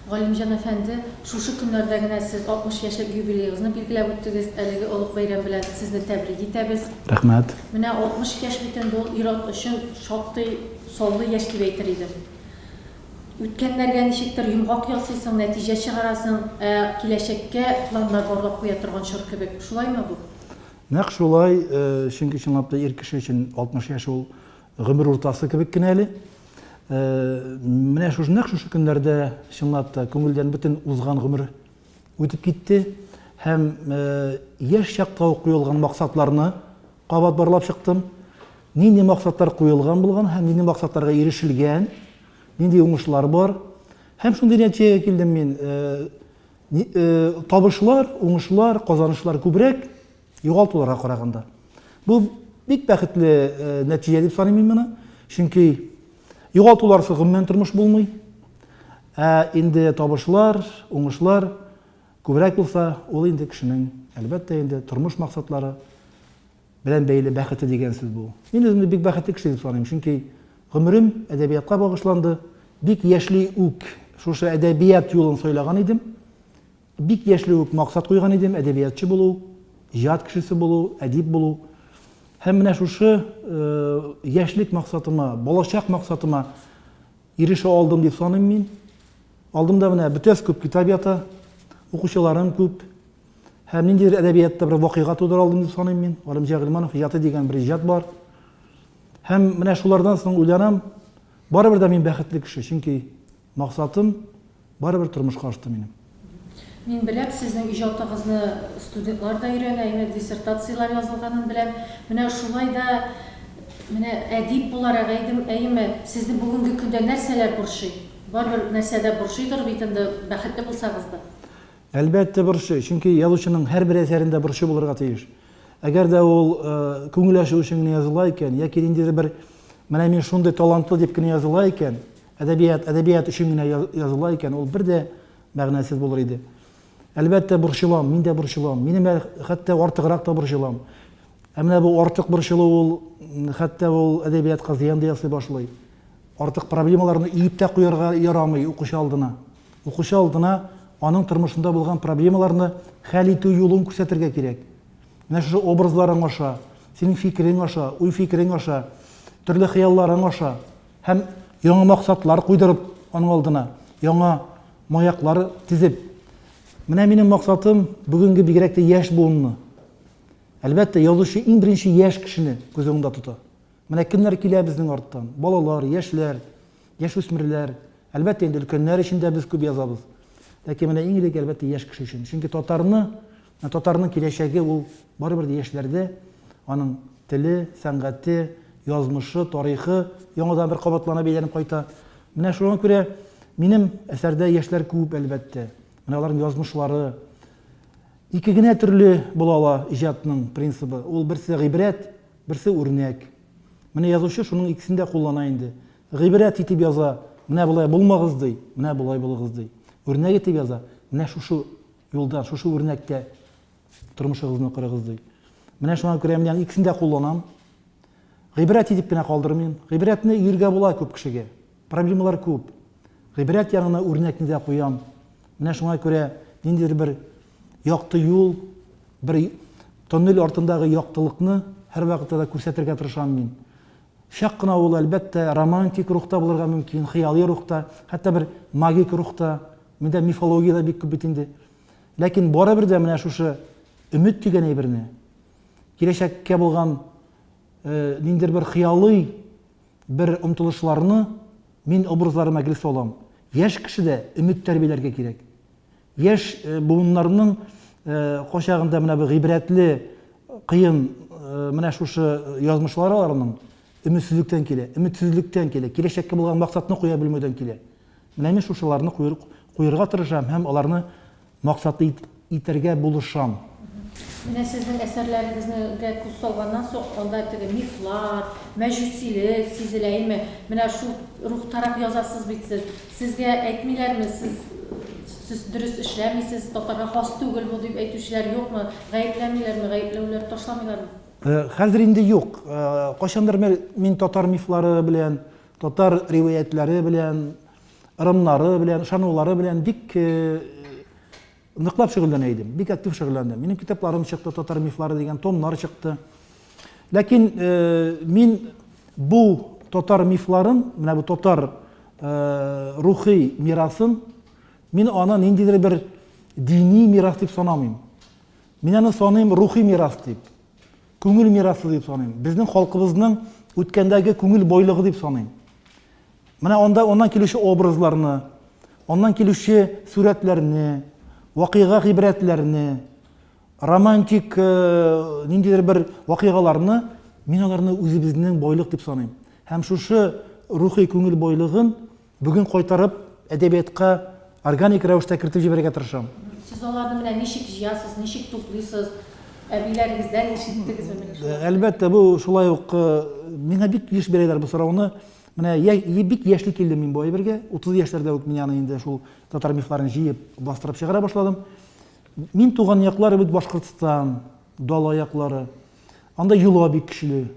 Галимҗан әфәнде, шушы көннәрдә генә сез 60 яшьлек юбилеегызны билгеләп үттегез, әлеге олуг бәйрәм белән сезне тәбрик итәбез. Рәхмәт. Менә 60 яшь бит инде ул ир-ат өчен шактый саллы яшь дип әйтер идем. Үткәннәргә ничектер йомгак ясыйсың, нәтиҗә чыгарасың, ә киләчәккә планнар барлап куя торган чор кебек. Шулаймы бу? Нәкъ шулай, чөнки чынлап та ир кеше өчен 60 яшь ул Гомер уртасы кебек кенә әле. Э, менә шушы нәкъ шушы көннәрдә чынлап та күңелдән бөтен узган гомер үтеп китте һәм э, яшь чакта ук куелган максатларны кабат барлап чыктым. Нинди максатлар куелган булган һәм нинди максатларга ирешелгән, нинди уңышлар бар. Һәм шундый нәтиҗәгә килдем мин. Э, табышлар, уңышлар, казанышлар күбрәк Югалтуларга караганда. Бу бик бәхетле нәтиҗә дип саныйм мин моны. Чөнки югалтуларсыз гомумән тормыш булмый. Ә инде табышлар, уңышлар күбрәк булса, ул инде кешенең, әлбәттә инде, тормыш максатлары белән бәйле бәхете дигән сүз бу. Мин үземне бик бәхетле кеше дип саныйм, чөнки гомерем әдәбиятка багышланды. Бик яшьли үк шушы әдәбият юлын сайлаган идем. Бик яшьли үк максат куйган идем, әдәбиятчы булу, иҗат кешесе булу, әдип булу. Һәм менә шушы яшьлек максатыма, балачак максатыма ирешә алдым дип саныйм мин. Алдымда менә бөтәс күп китап ята, укучыларым күп. Һәм ниндидер әдәбиятта бер вакыйга тудыра алдым дип саныйм мин. Галимҗан Гыйльманов иҗаты дигән бер иҗат бар. Һәм менә шулардан соң уйланам, барыбер дә мин бәхетле кеше, чөнки Максатым барыбер тормышка ашты минем. Мин беләм, сезнең иҗатыгызны студентлар да өйрәнә, әйе, диссертацияләр язылганын беләм. Менә шулай да, менә әдип буларак әйдем, әйеме, сезне бүгенге көндә нәрсәләр борчый? Барыбер нәрсә дә борчыйдыр бит инде, бәхетле булсагыз да. Әлбәттә, борчый, чөнки язучының һәрбер әсәрендә борчу булырга тиеш. Әгәр дә ул күңел ачу өчен генә языла икән яки ниндидер бер менә мин шундый талантлы дип кенә языла икән, Әдәбият, әдәбият өчен генә языла икән, ул бер дә мәгънәсез булыр иде. Әлбәттә, борчылам, мин дә борчылам. Минем хәтта артыграк та борчылам. Ә менә бу артык борчылу ул хәтта ул әдәбиятка зыян да ясый башлый. Артык проблемаларны иеп тә куярга ярамый укучы алдына. Укучы алдына аның тормышында булган проблемаларны хәл итү юлын күрсәтергә кирәк. Менә шушы образларың аша, синең фикерең аша, уй фикерең аша, төрле хыялларың аша Һәм яңа максатлар куйдырып аның алдына, яңа маяклар тезеп. Менә минем максатым бүгенге бигрәк тә яшь буынны. Әлбәттә, язучы иң беренче яшь кешене күз уңында тота. Менә кемнәр килә безнең арттан? Балалар, яшьләр, яшүсмерләр. Әлбәттә, инде өлкәннәр өчен дә без күп язабыз. Ләкин менә иң элек, әлбәттә, яшь кеше өчен. Чөнки татарны Ә татарның киләчәге ул барыбер яшьләрдә, аның теле, сәнгате, язмышы, тарихы яңадан бер кабатлана, бәйләнеп кайта. Менә шуңа күрә минем әсәрдә яшьләр күп, әлбәттә. Менә аларның язмышлары ике генә төрле була ала иҗатның принцибы. Ул берсе гыйбрәт, берсе үрнәк. Менә язучы шуның икесен дә куллана инде. Гыйбрәт итеп яза, менә болай булмагыз ди, менә болай булыгыз ди. Үрнәк итеп яза, менә шушы Юлдан шушы үрнәктә тормышыгызны корыгыз ди. Менә шуңа күрә мин аны икесен дә кулланам. Гыйбрәт итеп кенә калдырмыйм. Гыйбрәтне йөргә була күп кешегә. Проблемалар күп. Гыйбрәт янына үрнәкне дә куям. Менә шуңа күрә ниндидер бер якты юл, бер тоннель артындагы яктылыкны һәрвакытта да күрсәтергә тырышам мин. Чак кына ул, әлбәттә, романтик рухта булырга мөмкин, хыялый рухта, хәтта бер магик рухта, миндә мифология дә бик күп бит инде. Ләкин барыбер дә менә шушы өмет дигән әйберне, киләчәккә булган э, ниндидер бер хыялый бер омтылышларны мин образларыма гел салам. Яшь кешедә өмет тәрбияләргә кирәк. Яшь буыннарның кочагында менә бу гыйбрәтле, кыен менә шушы язмышлары аларның өметсезлектән килә, өметсезлектән килә, киләчәккә булган максатны куя белмәүдән килә. Менә мин шушыларны куерга тырышам һәм аларны максатлы итәргә булышам. Менә сезнең әсәрләрегезнегә күз салганнан соң, анда теге мифлар, мәҗүсилек сизелә име? Менә шул рухтарак язасыз бит сез. Сезгә әйтмиләрме, сез, сез дөрес эшләмисез, татарга хас түгел бу, дип әйтүчеләр юкмы? Гаепләмиләрме, гаепләүләр ташламыйлармы? Хәзер инде юк. Кайчандыр бер мин татар мифлары белән, татар риваятьләре белән, ырымнары белән, ышанулары белән бик Ныклап шөгыльләнә идем, бик актив шөгыльләндем. Минем китапларым чыкты, татар мифлары дигән томнар чыкты. Ләкин э, мин бу татар мифларын, менә бу татар э, рухи мирасын, мин аны ниндидер бер дини мирас дип санамыйм. Мин аны саныйм рухи мирас дип. Күңел мирасы дип саныйм. Безнең халкыбызның үткәндәге күңел бойлыгы дип саныйм. Менә анда аннан килүче образларны, аннан килүче сурәтләрне, вакыйга гыйбрәтләрне, романтик э, ниндидер бер вакыйгаларны мин аларны үзебезнең байлык дип саныйм. Һәм шушы рухи күңел байлыгын бүген кайтарып әдәбиятка органик рәвештә кертеп җибәрергә тырышам. Сез аларны менә ничек җыясыз, ничек туплыйсыз? Әбиләрегездән ишеттегезме? Әлбәттә, бу шулай ук э, миңа бик еш бирәләр бу сорауны. Менә я, бик яшьли килдем мин бу әйбергә. 30 яшьләрдә үк мин аны инде шул татар мифларын җыеп, бастырып чыгара башладым. Мин туган яклар бит Башкортстан, дала яклары. Анда юла бик көчле.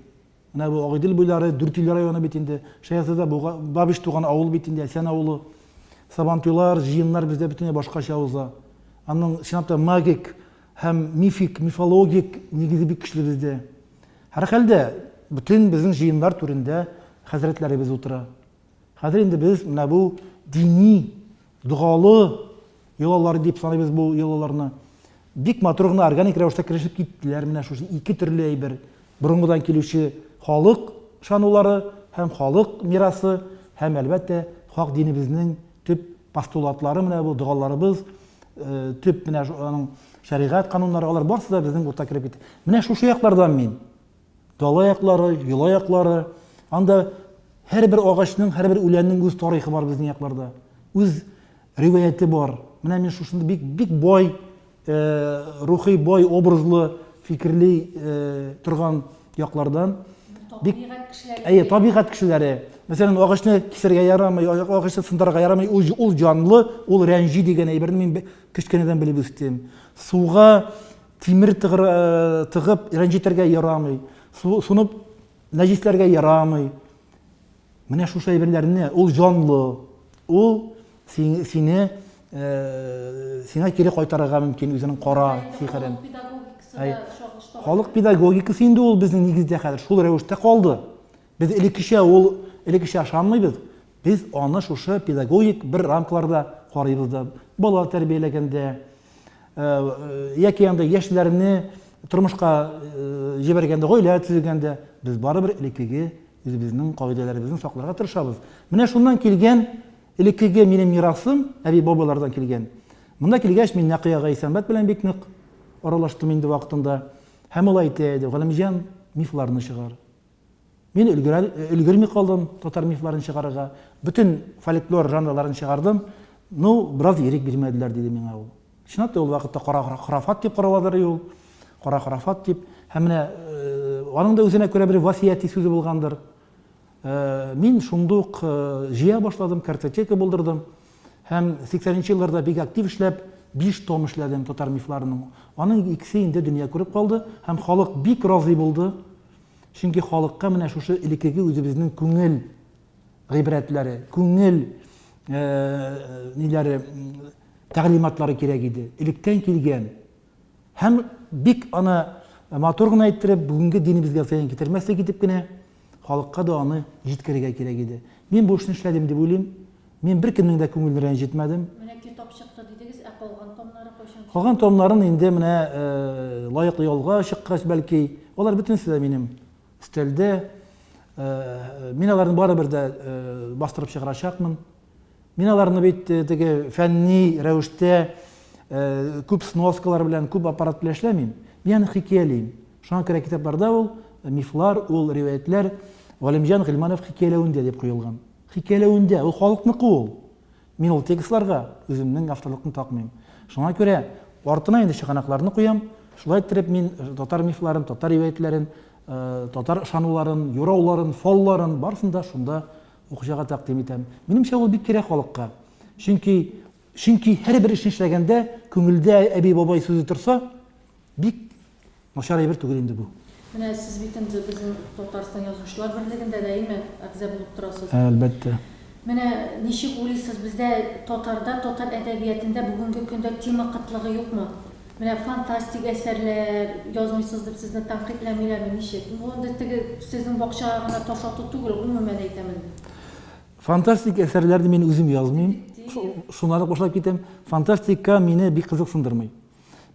Менә бу Агыйдел буйлары, Дүртөйле районы бит инде. Шәясәдә Бабиш туган авыл бит инде, Әсән авылы. Сабантуйлар, җыеннар бездә бөтенләй башкача уза. Аның чынлап та магик һәм мифик, мифологик нигезе бик көчле бездә. Һәрхәлдә, бөтен безнең җыеннар түрендә хәзрәтләребез утыра. Хәзер инде без менә бу дини, догалы йолалар дип саныйбыз бу йолаларны. Бик матур гына органик рәвештә керешеп киттеләр менә шушы ике төрле әйбер. Борынгыдан килүче халык шанулары һәм халык мирасы һәм әлбәттә хак динебезнең төп постулатлары менә бу догаларыбыз, э, төп менә аның шәригать кануннары алар барысы да безнең урта кереп китте менә шушы яклардан мин дала яклары йола яклары анда һәрбер агачның һәрбер үләннең үз тарихы бар безнең якларда үз риваяте бар менә мин шушында бик бик бай э, рухи бай образлы фикерли э, торган яклардан бик табигать кешеләре әйе табигать кешеләре мәсәлән агачны кисәргә ярамый агачны сындырырга ярамый ул, ул җанлы ул рәнҗи дигән әйберне мин кечкенәдән белеп үстем суга тимер тыгыр, э, тыгып рәнҗетергә ярамый суны нәҗисләргә ярамый Менә шушы әйберләрне, ул җанлы, ул сине э, сиңа кире кайтарырга мөмкин үзенең кара сихерен. Халык педагогикасы инде ул безнең нигездә хәзер шул рәвештә калды. Без элеккечә ул элеккечә ашанмыйбыз. Без аны шушы педагогик бер рамкаларда карыйбыз да. Бала тәрбияләгәндә, яки анда яшьләрне тормышка җибәргәндә, гаилә төзегәндә без барыбер элеккеге үзебезнең кагыйдәләребезне сакларга тырышабыз. Менә шуннан килгән элеккеге минем мирасым, әби-бабалардан килгән. Монда килгәч, мин Нәкыя Гайсәмбәт белән бик нык аралаштым инде вакытында. Һәм ул әйтә иде, Галимҗан, мифларны чыгар. Мин өлгерми калдым татар мифларын чыгарырга. Бөтен фольклор жанрларын чыгардым. Ну, бераз ирек бирмәделәр, диде миңа ул. Чынлап та ул вакытта кара храфат дип караладыр и ул. Кара храфат дип. Һәм менә аның да үзенә күрә бер васияти сүзе булгандыр. Мин шундук җыя башладым, картотека булдырдым. Һәм 80-нче елларда бик актив эшләп, биш том эшләдем татар мифларының. Аның икесе инде дөнья күреп калды һәм халык бик разый булды. Чөнки халыкка менә шушы элеккеге үзебезнең күңел гыйбрәтләре, күңел ниләре тәгълиматлары кирәк иде. Электән килгән һәм бик аны матур гына әйттереп, бүгенге динебезгә зыян китермәслек итеп кенә халыкка да аны җиткерергә кирәк иде. Мин бу эшне эшләдем дип уйлыйм. Мин беркемнең дә күңелен рәнҗетмәдем. Менә китап чыкты дидегез, ә калган томнары кайчан чыга? Калган томнарын инде менә лаеклы ялга чыккач, бәлки. Алар бөтенесе дә минем өстәлдә. Мин аларны барыбер дә бастырып чыгарачакмын. Мин аларны бит теге фәнни рәвештә күп сноскалар белән, күп аппарат белән эшләмим. Мин аны хикәялим. Шуңа күрә китапларда ул мифлар, ул риваятьләр Галимҗан Гыйльманов хикәяләвендә дип куелган. Хикәяләвендә, ул халыкныкы ул. Мин ул текстларга үземнең авторлыкны такмыйм. Шуңа күрә артына инде чыганакларны куям, шулай иттереп мин татар мифларын, татар риваятьләрен, татар ышануларын, юрауларын, фалларын, барысын да шунда укучыга тәкъдим итәм. Минемчә, ул бик кирәк халыкка. Чөнки, чөнки һәрбер эшне эшләгәндә күңелдә әби-бабай сүзе торса, бик Начар әйбер түгел инде бу. Менә сез бит инде безнең Татарстан Язучылар берлегендә даими әгъза булып торасыз. Әлбәттә. Менә ничек уйлыйсыз, бездә татарда, татар әдәбиятында бүгенге көндә тема кытлыгы юкмы? Менә фантастик әсәрләр язмыйсыз дип сезне тәнкыйтьләмиләрме, ничек? Бу инде теге сезнең бакчага гына таш ату түгел, гомумән әйтәм инде. Фантастик әсәрләрне мин үзем язмыйм. Шуңа да кушылып китәм, фантастика мине бик кызыксындырмый.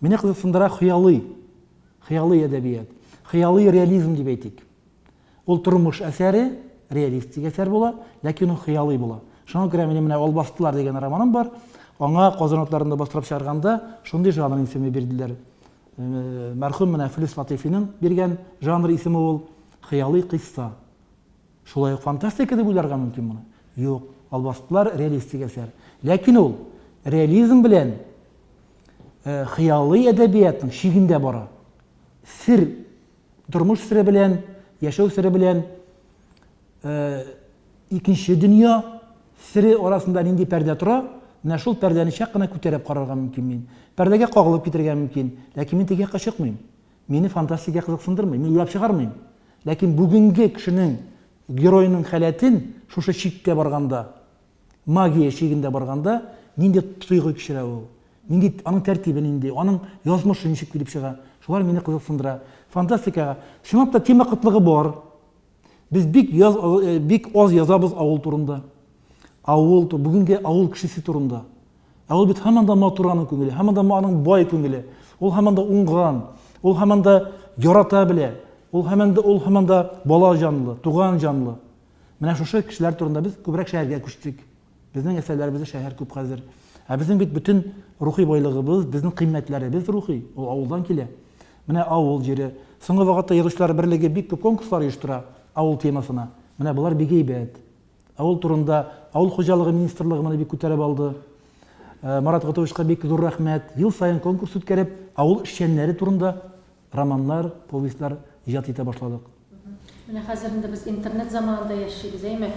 Мине кызыксындыра хыялый, хыялый әдәбият, хыялый реализм дип әйтик. Ул тормыш әсәре, реалистик әсәр була, ләкин ул хыялый була. Шуңа күрә минем менә Албастылар дигән романым бар. Аңа Казан атларында бастырып чыгарганда шундый жанр исеме бирделәр. Мәрхүм менә Флис Латифиның биргән жанр исеме ул хыялый кыйсса. Шулай ук фантастика дип уйларга мөмкин моны. Юк, Албастылар реалистик әсәр. Ләкин ул реализм белән хыялый әдәбиятның чигендә бара. Сер, тормыш сере белән, яшәү сере белән икенче дөнья сере арасында нинди пәрдә тора, менә шул пәрдәне чак кына күтәреп карарга мөмкин мин. Пәрдәгә кагылып китергә мөмкин, ләкин мин теге якка чыкмыйм. Мине фантастика кызыксындырмый, мин уйлап чыгармыйм. Ләкин бүгенге кешенең героеның халәтен шушы чиккә барганда, магия чигендә барганда, нинди тойгы кичерә ул? Нинди аның тәртибе нинди? Аның язмышы ничек килеп чыга? Шулар мине кызыксындыра. Фантастикага чынлап та тема кытлыгы бар. Без бик яз, э, бик аз язабыз авыл турында. Авыл, бүгенге авыл кешесе турында. Ә ул бит һаман да матур аның күңеле, һаман да аның бай күңеле. Ул һаман да уңган, ул һаман да ярата белә, ул һаман да ул һаман да бала җанлы, туган җанлы. Менә шушы кешеләр турында без күбрәк шәһәргә күчтек. Безнең әсәрләребездә шәһәр күп хәзер. Ә безнең бит бөтен рухи байлыгыбыз, безнең кыйммәтләребез рухи, ул авылдан килә. Менә авыл җире. Соңгы вакытта язучылар берлеге бик күп конкурслар оештыра авыл темасына. Менә болар бик әйбәт. Авыл турында Авыл хуҗалыгы министрлыгы моны бик күтәреп алды. Марат Готовичка бик зур рәхмәт. Ел саен конкурс үткәреп, авыл эшчәннәре турында Романнар, повестьлар иҗат итә башладык. Менә хәзер инде без интернет заманында яшибез, әйме?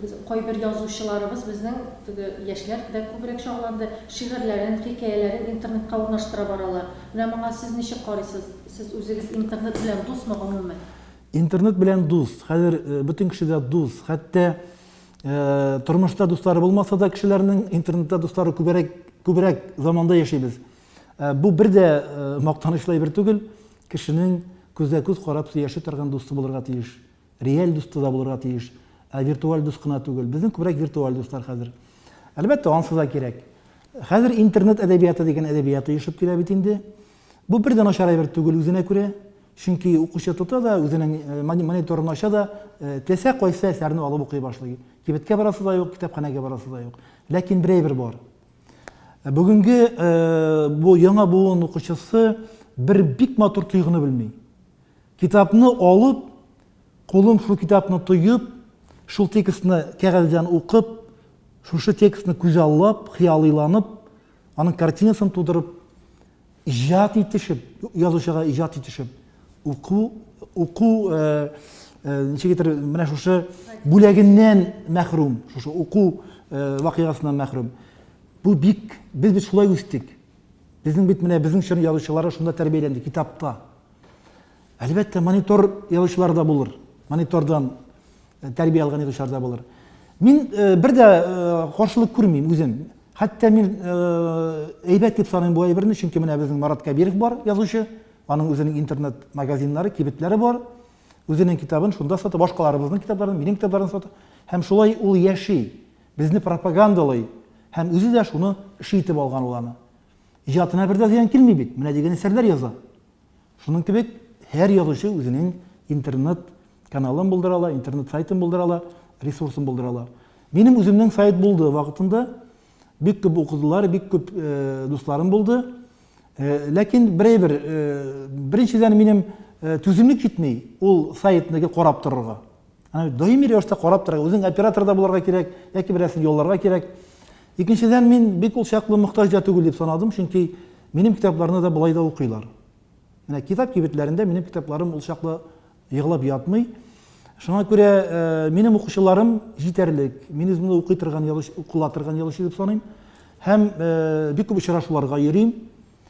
Без кайбер язучыларыбыз безнең теге яшьләр дә күбрәк чагыланды, шигырьләрен, хикәяләрен интернетка урнаштыра баралар. Менә моңа сез ничек карыйсыз? Сез үзегез интернет белән дусмы гомумән? Интернет белән дус. Хәзер бөтен кеше дә дус. Хәтта тормышта дуслары булмаса да кешеләрнең, интернетта дуслары күбрәк заманда яшибез. Ә, бу бер дә ә, мактанышлы әйбер түгел. Кешенең күзгә-күз карап сөйләшә торган дусты булырга тиеш. Реаль дусты да булырга тиеш. Ә виртуаль дус кына түгел. Безнең күбрәк виртуаль дуслар хәзер. Әлбәттә, ансы да кирәк. Хәзер интернет әдәбияты дигән әдәбият оешып килә бит инде. Бу бер дә начар әйбер түгел үзенә күрә. Чөнки укучы тота да, үзенең мониторын ача да, теләсә кайсы әсәрне алып укый башлый. Кибеткә барасы да юк, китапханәгә барасы да юк. Ләкин бер әйбер бар. Бүгенге бу яңа буын укучысы бер бик матур тойгыны белми. Китапны алып, кулын шул китапны тоеп, шул текстны кәгазьдән укып, шушы текстны күзаллап, хыялыйланып, аның картинасын тудырып, Иҗат итешеп, язучыга иҗат итешеп, уку, уку, ничек әйтер, менә шушы бүләгеннән мәхрүм, шушы уку вакыйгасыннан мәхрүм. Бу бик, без бит шулай үстек. Безнең бит менә безнең чор язучылары шунда тәрбияләнде, китапта. Әлбәттә, монитор язучылар да булыр. Монитордан э, тәрбия алган язучылар да булыр. Мин э, бер дә э, каршылык күрмим үзем. Хәтта мин әйбәт дип саныйм бу әйберне, чөнки менә безнең Марат Кәбиров бар, язучы. Аның үзенең интернет-магазиннары, кибетләре бар. Үзенең китабын шунда сата, башкаларыбызның китапларын, минем китапларын сата. Һәм шулай ул яши, безне пропагандалый һәм үзе дә шуны эше итеп алган ул аны. Иҗатына бер дә зыян килми бит. Менә дигән әсәрләр яза. Шуның кебек, һәр язучы үзенең интернет каналын булдыра ала, интернет сайтын булдыра ала, ресурсын булдыра ала. Минем үземнең сайт булды вакытында, бик күп укыдылар, бик күп э, дусларым булды. Э, ләкин берәйбер, э, беренчедән минем э, түземлек җитми ул сайтны карап торырга. Аны даими рәвештә карап торырга, үзең оператор да булырга кирәк, яки берәрсен ялларга кирәк. Икенчедән, мин бик ул чаклы мохтаҗ да түгел дип санадым, чөнки минем китапларны да болай да укыйлар. Менә китап кибетләрендә минем китапларым ул чаклы егылып ятмый. Шуңа күрә э, минем укучыларым җитәрлек. Мин үземне укый торган язучы, укыла торган язучы дип саныйм. Һәм э, бик күп очрашуларга йөрим.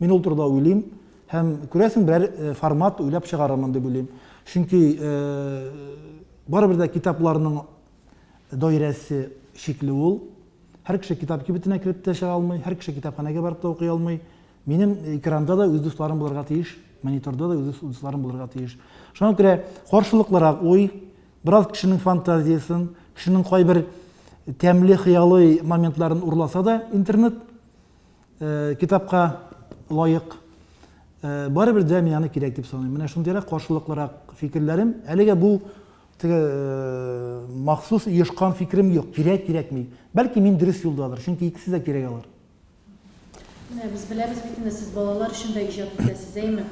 Мин ул турыда уйлыйм һәм, күрәсең, берәр формат уйлап чыгарырмын дип уйлыйм. Чөнки барыбер дә китапларның даирәсе чикле ул. Һәр кеше китап кибетенә кереп тә чыга алмый, һәр кеше китапханәгә барып та укый алмый. Минем экранда да үз дусларым булырга тиеш, мониторда да үз дусларым булырга тиеш. Шуңа күрә каршылыклырак уй, бераз кешенең фантазиясен, кешенең кайбер тәмле хыялый моментларын урласа да интернет, Китапка лаек. Барыбер дә мин аны кирәк дип саныйм. Менә шундыйрак каршылыклырак фикерләрем. Әлегә бу теге махсус оешкан фикерем юк. Кирәк, кирәкми. Бәлки мин дөрес юлдадыр, чөнки икесе дә кирәк алар. Менә без беләбез бит инде, сез балалар өчен дә иҗат итәсез, әйме?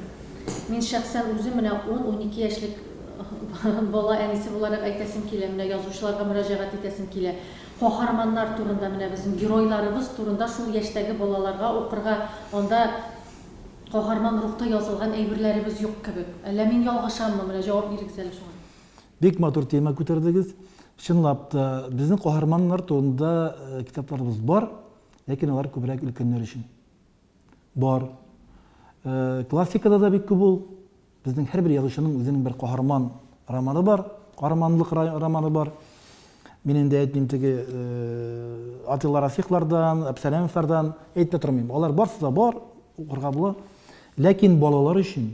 Мин шәхсән үзем менә ун-унике яшьлек бала әнисе буларак әйтәсем килә, менә язучыларга мөрәҗәгать итәсем килә. Каһарманнар турында, менә безнең геройларыбыз турында шул яшьтәге балаларга укырга, анда каһарман рухта язылган әйберләребез юк кебек. Әллә мин ялгышаммы? Менә җавап бирегез әле шуңа. Бик матур тема күтәрдегез. Чынлап та, безнең каһарманнар турында китапларыбыз бар, ләкин алар күбрәк өлкәннәр өчен. Бар. Классикада да бик күп ул. Безнең һәрбер язучының үзенең бер каһарман романы бар, каһарманлык романы бар. Мин инде әйтмим теге Атилла Рафиклардан, Әпсәләмовлардан әйтмә тормыйм. Алар барсы да бар, укырга була. Ләкин балалар өчен,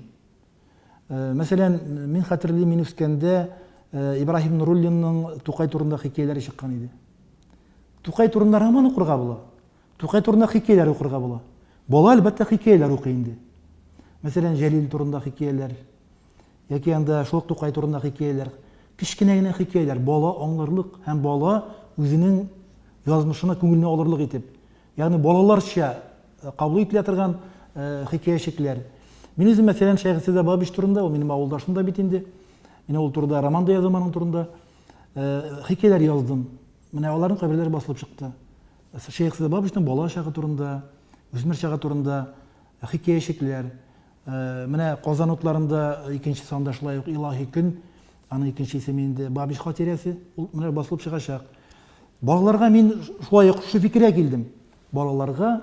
мәсәлән, мин хәтерлим, мин үскәндә Ибраһим Нуруллинның Тукай турында хикәяләре чыккан иде. Тукай турында роман укырга була. Тукай турында хикәяләр укырга була. Бала, әлбәттә, хикәяләр укый инде. Мәсәлән, Җәлил турында хикәяләр, яки анда шул ук Тукай турында хикәяләр. Кечкенә генә хикәяләр, бала аңларлык һәм бала үзенең язмышына күңеленә алырлык итеп. Ягъни балаларча э, кабул ителә торган э, хикәячекләр. Мин үзем, мәсәлән, Шәйхсәдә Бабич турында, ул минем авылдашым да бит инде. Мин ул турында роман да язам аның турында. Э, хикәяләр яздым. Менә аларның каберләре басылып чыкты. Шәех Сәбабовичның бала чагы турында, үсмер чагы турында хикәячекләр. Менә Казан утларында икенче санда шулай ук Илаһи көн, аның икенче исеме инде Бабич хатирәсе, ул менә басылып чыгачак. Балаларга мин шулай ук шушы фикергә килдем. Балаларга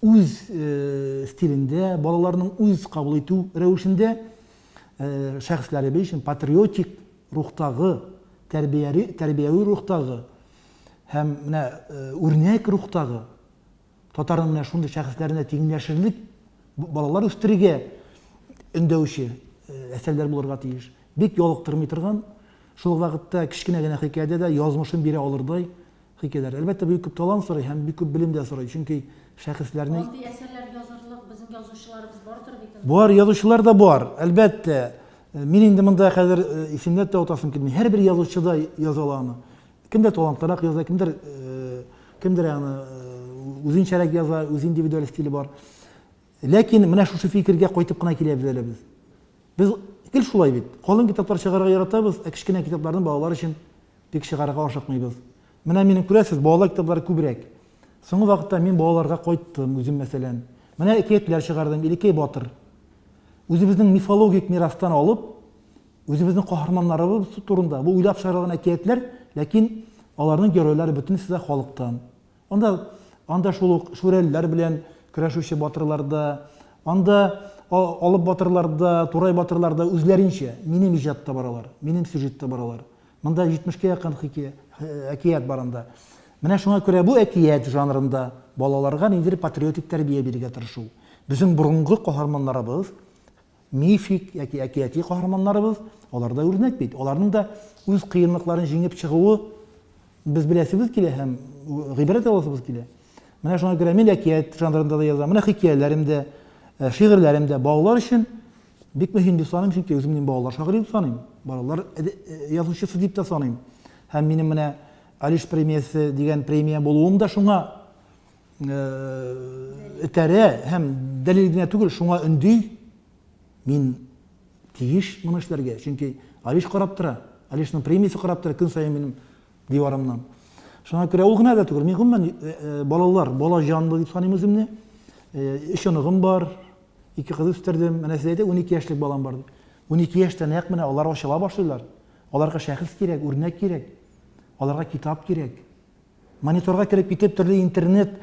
үз стилендә, балаларның үз кабул итү рәвешендә шәхесләребез өчен патриотик рухтагы, тәрбияри, тәрбияви рухтагы һәм менә үрнәк рухтагы татарның менә шундый шәхесләренә тиңләшерлек балалар үстерергә өндәүче әсәрләр булырга тиеш. Бик ялыктырмый торган, шул вакытта кечкенә генә хикәядә дә язмышын бирә алырдай Хикәяләр, әлбәттә, бик күп талант сорый һәм бик күп белем дә сорый, чөнки шәхесләрне. Андый әсәрләр язырлык безнең язучыларыбыз бардыр бит инде. Бар, язучылар да бар, әлбәттә. Мин инде монда хәзер исемләп тә атасым килми. Һәрбер язучы да яза ала аны. Кемдер талантлырак яза, кемдер, кемдер аны үзенчәрәк яза, үз индивидуаль стиле бар. Ләкин менә шушы фикергә кайтып кына киләбез әле без. Без гел шулай бит. Калын китаплар чыгарырга яратабыз, ә кечкенә китапларны балалар өчен бик чыгарырга ашыкмыйбыз. Менә минем, күрәсез, балалар китаплары күбрәк. Соңгы вакытта мин балаларга кайттым, үзем, мәсәлән. Менә әкиятләр чыгардым, Илекәй батыр. Үзебезнең мифологик мирастан алып, үзебезнең каһарманнарыбыз турында, бу уйлап чыгарылган әкиятләр, ләкин аларның геройлары бөтенесе дә халыктан. Анда анда шул ук шүрәлеләр белән көрәшүче батырлар да, анда алып батырлар да, турай батырлар да үзләренчә минем иҗатта баралар, минем сюжетта баралар. Монда 70 кә якын хикәя, әкият бар анда. Менә шуңа күрә бу әкият жанрында балаларга ниндидер патриотик тәрбия бирергә тырышу. Безнең борынгы каһарманнарыбыз Мифик яки әкияти каһарманнарыбыз, алар да үрнәк бит. Аларның да үз кыенлыкларын җиңеп чыгуы без беләсебез килә һәм гыйбрәт аласыбыз килә. Менә шуңа күрә мин әкият жанрында да язам. Менә хикәяләрем дә, э, шигырьләрем дә балалар өчен бик мөһим дип саныйм, чөнки үзем мин балалар шагыйре дип саныйм. Балалар э, э, язучысы дип та саныйм. Һәм минем менә Алиш премиясе дигән премия булуым да шуңа этәрә һәм дәлил генә түгел, шуңа өнди. Мин тиеш моны эшләргә, чөнки Алиш карап тора. Алишның премиясе карап тора көн саен минем диварымнан. Шуңа күрә ул гына да түгел. Мин гомумән э, э, балалар, бала җанлы дип саныйм үземне. Э, өч оныгым бар, ике кыз үстердем. Менә сез әйтә, 12 яшьлек балам бар. 12 яшьтә нәкъ менә алар ачыла башлыйлар. Аларга шәхес кирәк, үрнәк кирәк. Аларга китап кирәк. Мониторга кереп китеп, төрле интернет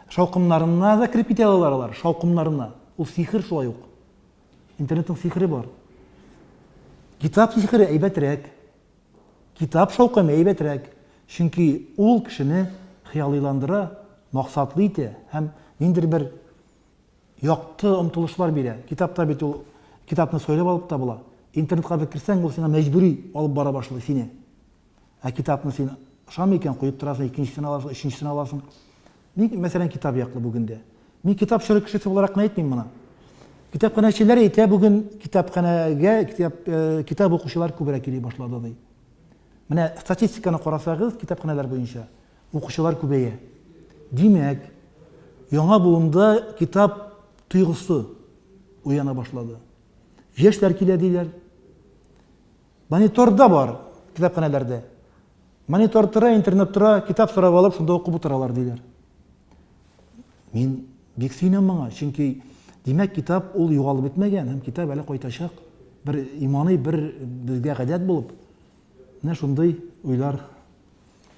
шаукымнарына да кереп китә алалар алар, шаукымнарына. Ул сихер шулай ук. Интернетның сихере бар. Китап сихере әйбәтрәк. Китап шаукымы әйбәтрәк. Чөнки ул кешене хыялыйландыра, максатлы итә һәм ниндидер бер якты омтылышлар бирә. Китапта бит ул китапны сойлап алып та була. Интернетка бер керсәң, ул сиңа мәҗбүри алып бара башлый сине. Ә китапны син ошамый икән, куеп торасың, икенчесен аласың, өченчесен аласың. Ник, мәсәлән, китап яклы бүген дә? Мин китап чоры кешесе буларак кына әйтмим моны. Китапханәчеләр әйтә бүген китапханәгә китап, э, китап укучылар күбрәк йөри башлады ди. Менә статистиканы карасагыз китапханәләр буенча укучылар күбәя. Димәк, яңа буында китап тойгысы уяна башлады. Яшьләр килә диләр. Монитор да бар китапханәләрдә. Монитор тора, интернет тора, китап сорап алып, шунда укып утыралар, диләр. Мин бик сөенәм моңа, чөнки димәк, китап ул югалып бетмәгән һәм китап әле кайтачак. Бер иманы, бер безгә гадәт булып. Менә шундый уйлар